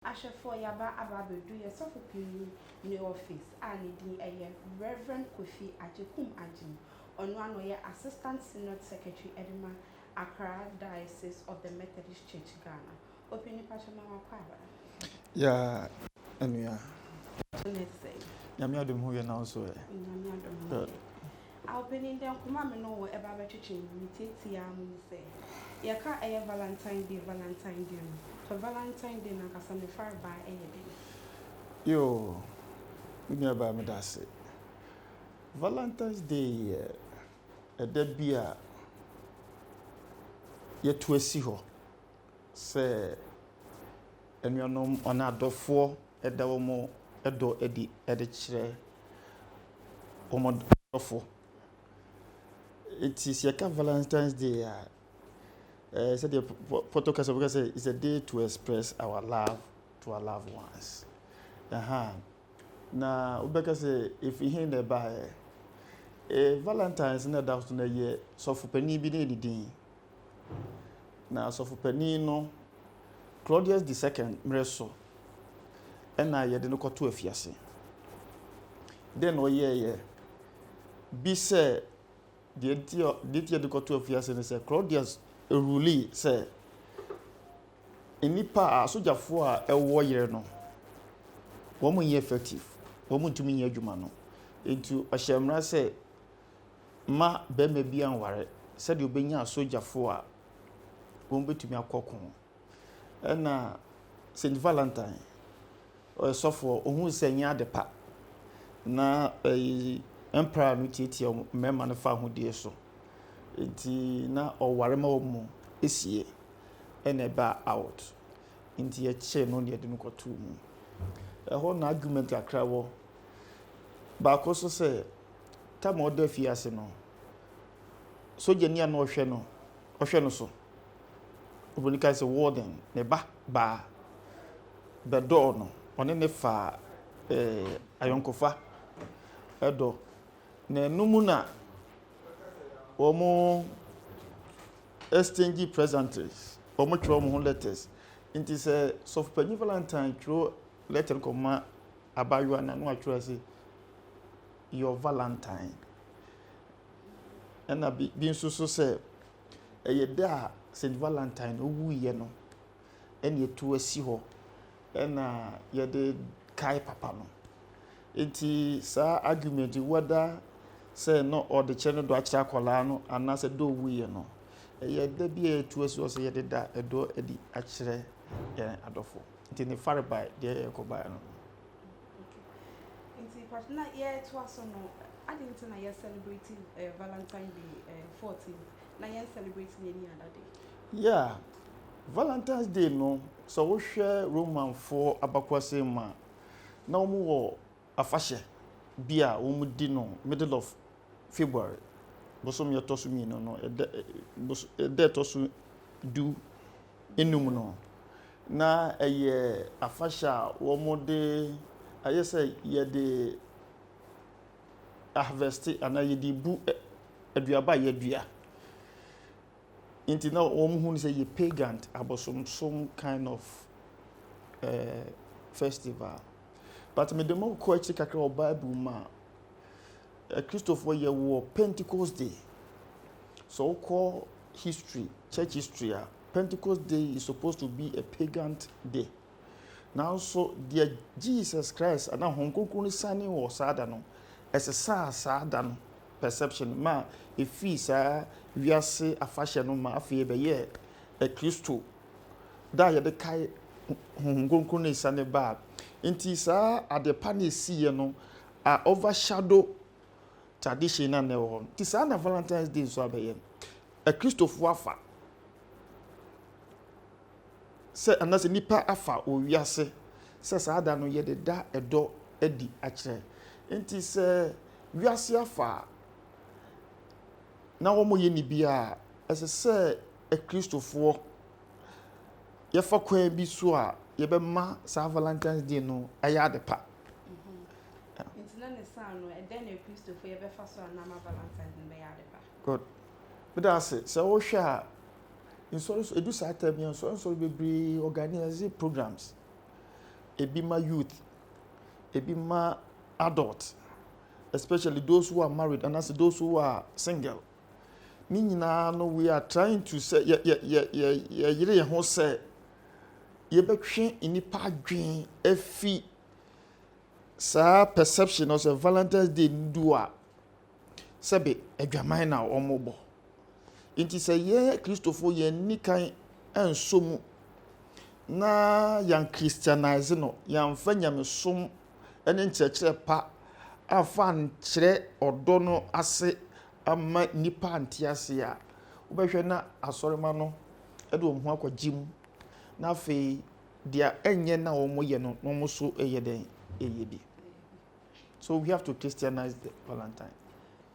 Ahwɛfoɔ yaba aba abɛduru yɛ sɔfo panyin ne office a ne din ɛyɛ Rev Kofi Agyekum Agyeem ɔno ara na ɔyɛ Assistant Synod Secretary ɛde ma Accra Diocese of the Methodist Church Ghana Ɔpanyin pakyɛ ma wakɔ aba. Yaa anua. Nyame adom ho yɛ nanso ɛ. Nyame adom ho yɛ. Aw panin dɛn koma me ne wo ɛba bɛtwetwe mu me tiatiaa mo mu sɛ yɛka ɛyɛ valentine day valentine day no pɛ valentine day no ankasa me far baa ɛyɛ dɛn. Yoo me nua baa meda ase valentines day yɛ ɛda bi a yɛto asi hɔ Sɛ anuanom anaa adɔfoɔ da wɔn dɔ adi de kyerɛ wɔn adɔfo. Enti sɛ yɛka valentine's day a, ɛɛ sɛdeɛ pɔtɔ kasa mu ka sɛ it's a day to express our love to our loved ones. Ɛhaa na wobɛka sɛ ɛfiri he na ɛbaeɛ? Valentine's na ɛda so no yɛ sɔfo panin bi na ɛdi din. Na asɔfo panin no, Claudius the second mmere so na yɛde no kɔto afiase. Dɛn na ɔyɛeɛ? Bi sɛ deɛ nti a deɛ nti a yɛde kɔto afiase ne sɛ Claudius ruli sɛ nnipa a asogyafoɔ a ɛwɔ yere no wɔn nyɛ effective wɔn ntumi nyɛ adwuma no nti ɔhyɛ mmara sɛ mma barima bi anware sɛdeɛ ɔbɛnya asogyafoɔ a wɔbɛtumi akɔ ko. Ɛna St. Valentine, ɔyɛ sɔfoɔ, ɔhuu sɛ ɛnyɛ ade pa na ɛyi mpra no tiatia mmarima no fa ahodeɛ so. Nti na ɔware ma wɔn mu esie ɛna ɛba out. Nti yɛkyee no na yɛde no kɔtoo mu. Ɛhɔ na argument akra wɔ. Baako so sɛ Tam a ɔda afiase no, sogyani a na ɔhwɛ no ɔhwɛ no so. Oburoni kae sɛ, Warden, me ba baa bɛdɔɔ no. Ɔne no faa eh, ayɔnkofa ɛdɔ. Na ɛno mu na wɔn exchange presents, wɔn twerɛ wɔn ho letters. Nti sɛ sɔfo panyin Valentine twerɛ letter no kɔma abaayewa no, na watwerɛ ase your valentine. Ɛna bi bi nso so sɛ ɛyɛ da a St. Valentine owuiɛ no ɛna ɛtu asi hɔ ɛna yɛde kae papa no. Nti saa argument wada sɛ na ɔde kyerɛ no dɔ akyerɛ akwadaa no anaasɛ dɔ owuiɛ no ɛyɛ da bi a ɛtu asi hɔ sɛ yɛde da ɛdɔ adi akyerɛ yɛn adɔfo. Nti ne farebae deɛ yɛkɔbaeɛ no. Nti pacho na yɛtoa so no aden nti na yɛ celebrate eh, valentine day eh, 14 na yɛn celebrate ne ani ada day yeah valentine's day no sɛ wohwɛ romanfoɔ abakwase mu a na wɔn wɔ afahyɛ bi a wɔn di no middle of february bosom yɛtɔ so mmienu no ɛdɛ ɛdɛ ɛtɔ so du nnum no, na ɛyɛ afahyɛ a wɔde ayɛ sɛ yɛde ahavɛste anaa yɛde bu aduaba a yɛadua. Nti na wɔhu no sɛ ɛyɛ pagan abosomsom kind of ɛɛ festival. But mede mo kɔ akyiri kakra wɔ Bible mu a, Akristofoɔ yɛ wɔ Pentecost Day. Sɛ wokɔ history, church history a, Pentecost Day is supposed to be a pagan day. Nanso deɛ Jesus Christ anaa Honhom Kronkron no sane wɔ saa da no, ɛsesaa saa da no perception ma a ɛfii saa wiase afahyɛ no ma afei ɛbɛyɛɛ Akristo da a yɛde kae Honhom Kronkron no sane baa. Nti saa adepa no ɛsiiɛ no A overshadow tradition no a na ɛwɔ hɔ no. Nti saa na Valentine's Day nso abɛyɛ no. Akristofo afa sɛ anaasɛ nnipa afa wɔ wiase sɛ saa da no yɛde da ɛdɔ adi akyerɛ. Nti sɛ wiase afa a, na wɔyɛ ne bi a, ɛsɛ sɛ Akristofoɔ yɛfa kwan bi so a yɛbɛma saa valentine's day no ayɛ ade pa. nti na ne saa no ɛdɛn na kristofo yɛbɛfa so a na ama valentine's no bɛyɛ ade pa. good meda ase sɛ wohwɛ a nsɔre so edu saa tɛm yɛn nsɔre nsɔre bebree organize programs ebi ma youth ebi ma adult especially those who are married anaasɛ those who are single. Ne nyinaa no we are trying to sɛ yɛ yɛ yɛ yɛ yɛyere yɛn ho sɛ yɛbɛtwe nnipa adwene afi saa perception no sɛ valentine's day no du a sɛbe adwaman na wɔbɔ nti sɛ yɛn kristofo yɛn ni kan nso mu na yɛn christianize no yɛnfa nyamesom ne nkyerɛkyerɛ pa amfa ankyerɛ ɔdɔ no ase amma nnipa ante ase a, wobɛhwɛ na asɔremma no de wɔn ho akɔgye mu, na afei deɛ ɛnyɛ na wɔyɛ no na wɔn nso yɛ dɛn yɛ bi. So we have to Christianize the Valentine.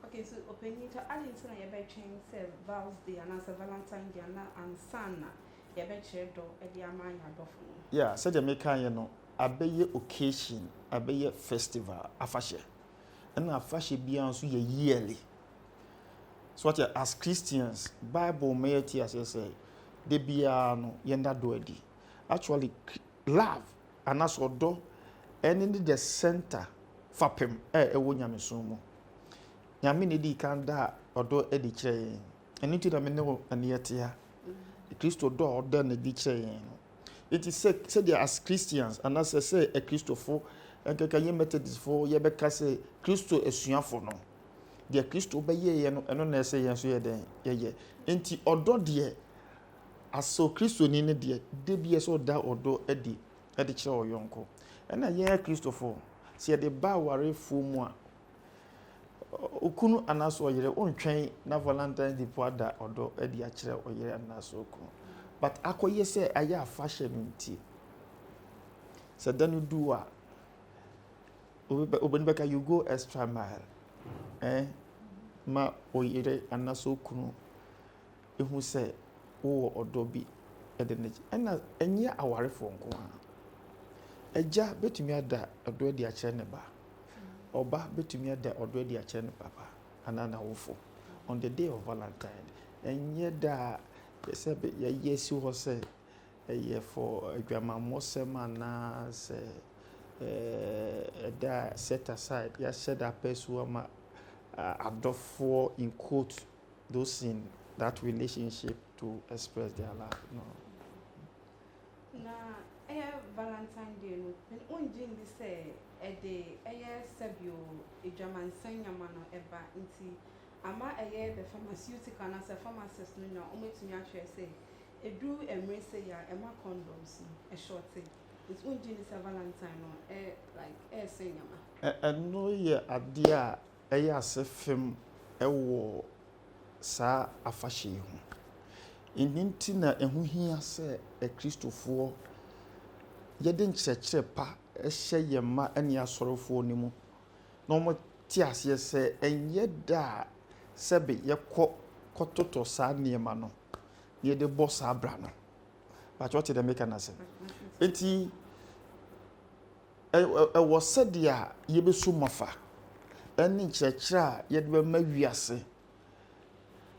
Okay, so opanyin to adi nti na yɛbɛtwɛn sɛ Val's Day anaasɛ Valentine Day ana ansa na yɛbɛkyerɛ dɔ de ama yɛn adɔfo no. Yeah, sɛdeɛ meka yɛ no. abɛyɛ occasion, abɛyɛ festival, afahyɛ. Ɛna afahyɛ biara nso yɛ yearly. So ɔte as Christians, Bible ma yɛte aseɛ sɛ da biara no yɛnda dɔ adi. Actually, love anaasɛ ɔdɔ ɛne ne the center fapem a ɛwɔ nyamesom mu. Nyame na ɛdi kan da ɔdɔ adi kyerɛ yɛn. Ɛno nti na me ne wo ɛne yɛte ha. Kristo dɔ a ɔda no adi kyerɛ yɛn no, Enti sɛ sɛdeɛ as Christians anaasɛ sɛ Akristofo nkeka yɛ Methodistfo yɛbɛka sɛ Kristo asuafo no, deɛ Kristo bɛyɛeɛ no ɛno na ɛsɛ yɛn nso yɛ dɛn yɛyɛ. Enti ɔdɔ deɛ asɔ Kristoni no deɛ da bi ɛsɛ ɔda ɔdɔ adi de kyerɛ ɔyɔnko. Ɛna yɛn Akristofo sɛ yɛde ba awarefoɔ mu a, Okunu anaasɛ ɔyere ontwɛn na Valentine's Day po ada ɔdɔ adi akyerɛ ɔyere anaasɛ okunu. But akɔyɛ sɛ ayɛ afahyɛ no nti, sɛ da no du a, obi bɛka you go extra mile eh, ma ɔyere anaasɛ okunu hu sɛ wowɔ ɔdɔ bi de no kyɛ. Ɛna ɛnyɛ awarefoɔ nko ara. Agya bɛtumi ada ɔdɔ adi akyerɛ ne ba. Ɔba bɛtumi ada ɔdɔ adi akyerɛ ne papa anaa n'awofo. On the day of Valentine, ɛnyɛ da a yɛsɛ yɛyɛ si hɔ sɛ ɛyɛ fɔ adwamammɔsɛm anaasɛ ɛda a set aside, yɛahyɛ da apɛ so ama adɔfoɔ in quote those in that relationship to express their love no. Na ɛyɛ Valentine Day no, wongye ndi sɛ ɛde ɛyɛ sɛbio adwamansan nyama no ɛba nti ama ɛyɛ the pharmaceutical anaasɛ pharmacist no na wɔatumi akyerɛ sɛ ɛduru mmere sei a ɛma condoms no ɛshɔɔte nti wongye ndi sɛ Valentine no ɛ like ɛɛsɛn nyama. Ɛno yɛ adeɛ a yɛ ase fem wɔ saa afahyɛ yi ho. Ɛno nti na ɛho hia sɛ Akristofoɔ yɛde nkyerɛkyerɛ pa hyɛ yɛn mma ne asɔrefoɔ no mu na wɔte aseɛ sɛ ɛnyɛ da a sɛbe yɛkɔ kɔtotɔ saa nneɛma no na yɛde bɔ saa bra no. Pakyɛ wote deɛ meka no ase. Nti Ɛwɔ sɛdeɛ a yɛbɛsu mafa ne nkyerɛkyerɛ a yɛde bɛma wiase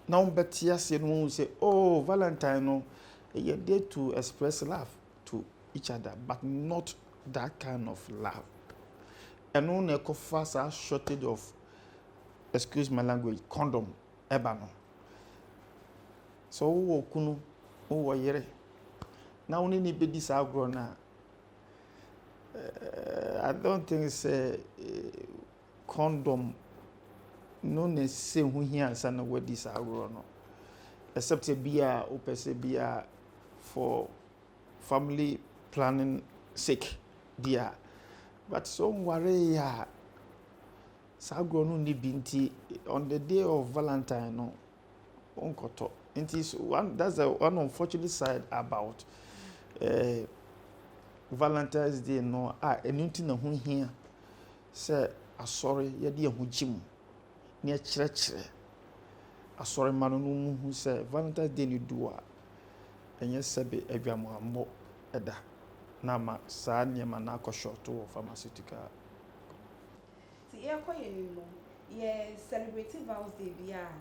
na wɔbɛte aseɛ no wɔhu sɛ oh valentine no ɛyɛ day to express love to each other but not that kind of love ɛno na ɛkɔfa saa shortage of excuse my language condom ɛba no sɛ wowɔ kunu wowɔ yere na wo ne ne bɛdi saa agorɔ no a eh, I don't think sɛ eh, condom no na ɛsɛ ho hia ansa na wadi saa agorɔ no except bi a wopɛ sɛ bi a for family planning sake bi a but sɛ ɔnwaree a saa agorɔ no nni bi nti on the day of valentine no Wonkɔtɔ. Nti so one that's the one unfortunate side about eh, Valentine's Day no a ɛno nti na ho hia sɛ asɔre yɛde yɛn ho gye mu na yɛkyerɛkyerɛ asɔre mma no no mu hu sɛ Valentine's Day no du a ɛnyɛ sɛbe adwamuammɔ ɛda na ama saa nneɛma no akɔ short wɔ pharmaceutical Nti yɛkɔ yɛn anim no yɛ celebrate vows day biaa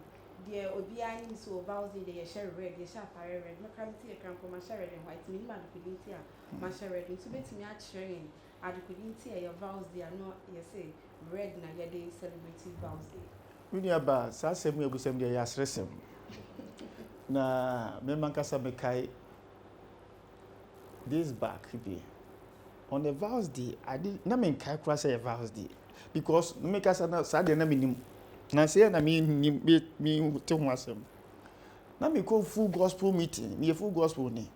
deɛ obiaa nim sɛ o vows day deɛ yɛhyɛ red yɛhyɛ atareɛ red me koraa mete yɛ kra mpo mahyɛ red and white menim adekode nti a mahyɛ red nti wobɛtumi akyerɛ yɛn adekode nti a yɛ vows day a na yɛse red na yɛde celebrate vows day. Me nua baa saa asɛm yi a wabusam deɛ ɛyɛ aseresɛm na me mankasa mekae days back bi. Ɔno yɛ vows deɛ ade na me nkae koraa sɛ yɛ vows deɛ because me kasa na saa deɛ na me nim na sɛ yɛ na me nim me me te ho asɛm na me kɔ full gospel meeting me yɛ full gospel ni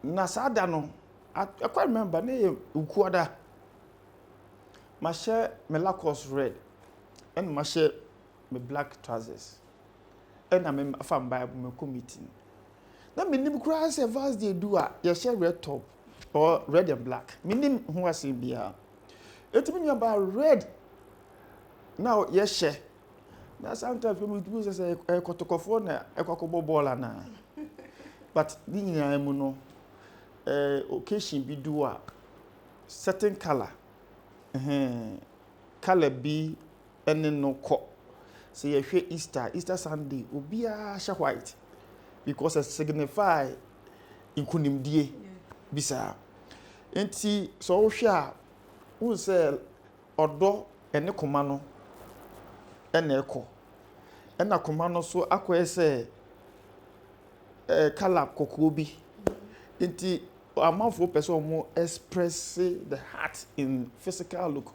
na saa da no ɛkɔ remember ne yɛ ukuada ma hyɛ me lacos red ɛna ma hyɛ me black trousers ɛna me fa bible me kɔ meeting na menim koraa sɛ Vat's Day du a yɛhyɛ red top or red and black menim ho asɛm biara eti me nua baa red na yɛhyɛ na sometimes kò mi tumi sɛ sɛ ɛkɔtɔkɔfoɔ na ɛkɔkɔbɔ bɔɔl anaa but ne nyinaa mu no ɛɛ eh, occasion bi du a certain colour ɛhɛn colour bi ne no kɔ. Sɛ yɛhwɛ Easter a, Easter Sunday obiara hyɛ white because it signify nkunimdie bi saa. Nti sɛ wohwɛ a, wohu sɛ ɔdɔ ɛne koma no ɛna ɛkɔ. Ɛna koma no so akɔyɛ sɛ ɛɛ kala kɔkɔɔ bi. Nti amanfoɔ pɛ sɛ wɔn express the heart in physical look.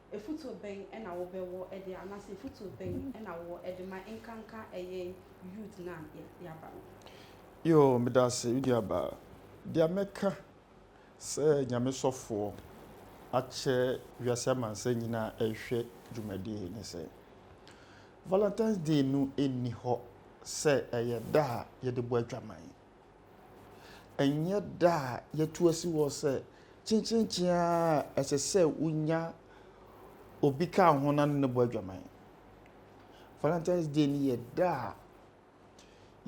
Afutuo bɛn na wo bɛ wɔ de anaasɛ afutuo bɛn na wo wɔ de ma nkanka yɛn youth no a yɛaba no. Yoo medase me nua baa. Dea mɛka sɛ Nyame sɔfoɔ akyɛ wiase amansan nyinaa ɛrehwɛ dwumadie yi ne sɛ, Valentine's day no nni hɔ sɛ ɛyɛ da a yɛde bɔ adwaman. Ɛnyɛ da a yɛatu asi hɔ sɛ kyenkyenkyen ara a ɛsɛ sɛ wonya obi ka wo ho na ne no bɔ adwaman. Valentine's Day no yɛ da a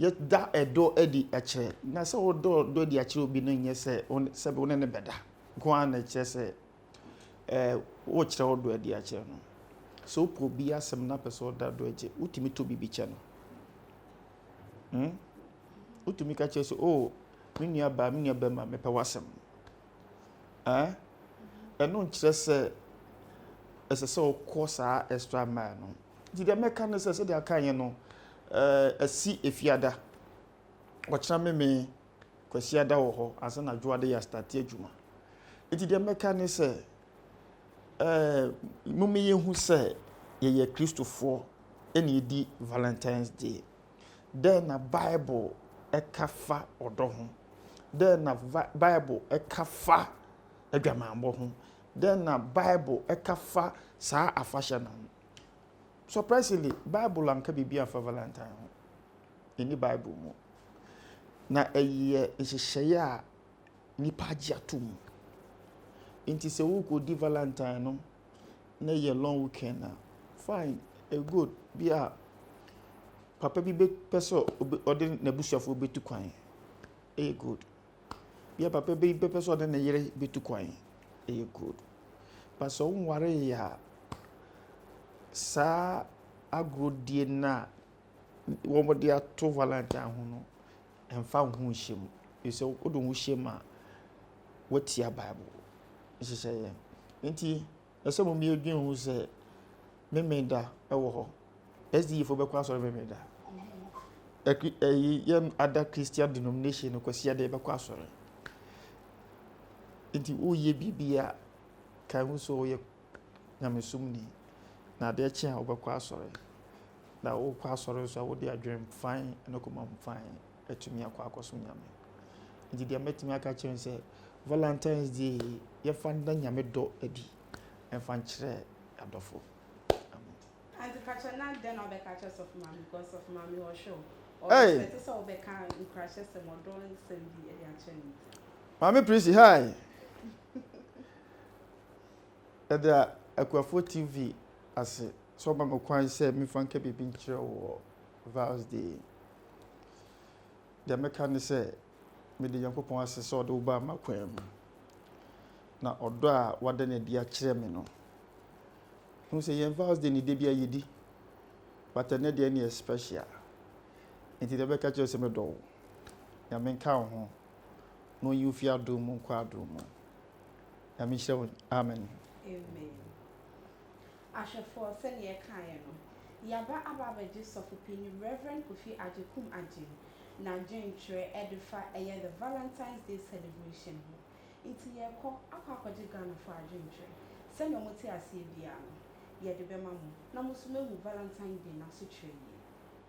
yɛda ɛdɔ adi kyerɛ, na sɛ wodɔ dɔ adi akyerɛ obi no nyɛ sɛ wo ne sɛbe wo ne no bɛda nko ara na ɛkyerɛ sɛ ɛɛ wokyerɛ wo dɔ adi akyerɛ no. Sɛ wopɛ obi asɛm na wopɛ sɛ ɔda dɔ akyi, wotumi tɔ biribi kyɛ no. Hmm? Wotumi ka kyerɛ sɛ, oh, me nua baa, me nua bɛma, mepɛ w'asɛm. Eh? Ɛno nkyerɛ sɛ ɛsɛ sɛ wokɔ saa extra mile no. Nti deɛ mɛka ne sɛ sɛdeɛ aka yɛ no, eh, asi efiada. Ɔkyena meme kwasiada wɔ hɔ ansa na adwoade yɛ astate adwuma. Nti deɛ mɛka ne sɛ Ɛɛ momma yɛnhu sɛ yɛyɛ Kristofoɔ na yɛdi Valentine's Day. Dɛn na Bible ka fa ɔdɔ ho? Dɛn na va Bible ka fa adwamammɔ ho? Dɛn na Bible ka fa saa afahyɛ no ho? Surprisingly, Bible anka biribi amfa Valentine ho. Ɛnni Bible mu. Na ɛyɛ nhyehyɛeɛ a nnipa agye atom. Nti sɛ worekɔdi valantine no na ɛyɛ long weekend a, fine, ɛyɛ good. Bi a papa bi bɛpɛ sɛ ɔbɛ ɔde n'abusuafoɔ bɛtu kwan, ɛyɛ good. Bi a papa bi bɛpɛ sɛ ɔde ne yere bɛtu kwan, ɛyɛ good. But sɛ wonwaree a, saa agorɔdie no a wɔde ato valantine ho no, mfa wo ho nhyɛ mu. Ɛfiri sɛ wode wo ho hyɛ mu a, woatia Bible nhyehyɛeɛ. Nti ɛsɛ mo mmienu dwen ho sɛ Memeneda wɔ hɔ. SDA foɔ bɛkɔ asɔre Memeneda. Ɛyi yɛn ada Christian denomination no kwasi adeɛ bɛkɔ asɔre. Nti woyɛ biribi a kan ho sɛ woyɛ nyamesomni na adeɛ kye a wobɛkɔ asɔre. Na wokɔ asɔre nso a, wode adwene fann ne komam fann atumi akɔ akɔsom Nyame. Nti deɛ mɛtumi aka akyerɛ no sɛ, Valentine's Day yi, yɛmfa nna Nyame dɔ adi mfa nkyerɛ adɔfo. Amen. Aunty pakyɛ na dɛn na wobɛka akyerɛ sɔfo maame because sɔfo maame ɔhwɛ o ɔwɔ expect sɛ wobɛka nkrahyɛ sɛm ɔdɔ nsɛm bi de akyerɛ ne nti. Maame Prissy hi. Ɛda Akuafoɔ TV ase sɛ ɔma me kwan sɛ memfa nka biribi nkyerɛ wo wɔ Val's Day yi. Deɛ mɛka ne sɛ, meda Nyankopɔn ase sɛ ɔde wo baa m'akwan mu. Na ɔdɔ a wada no adi akyerɛ me no, hu sɛ yɛn Val's Day no da biara yɛdi, but ɛnɛ deɛ ɛne yɛ special. Nti deɛ mɛka kyerɛ sɛ medɔ wo, Nyame nka wo ho, na ɔnyi wo fi adom mu nkɔ adom mu. Nyame nhyira wo. Amen. Amen. Ahwɛfoɔ, sɛdeɛ yɛkaeɛ no, yɛaba aba abɛgye Sɔfo Panin Rev. Kofi Agyekum Agyen n'adwentwerɛ ɛde fa ɛyɛ The Valentine's Day Celebration ho. Nti yɛrekɔ akɔ akɔgye Ghanafoɔ adwentwerɛ sɛdeɛ wɔn te aseɛ biara no, yɛde bɛma mo na mo nso moahu Valentine Day n'asekyerɛ yie.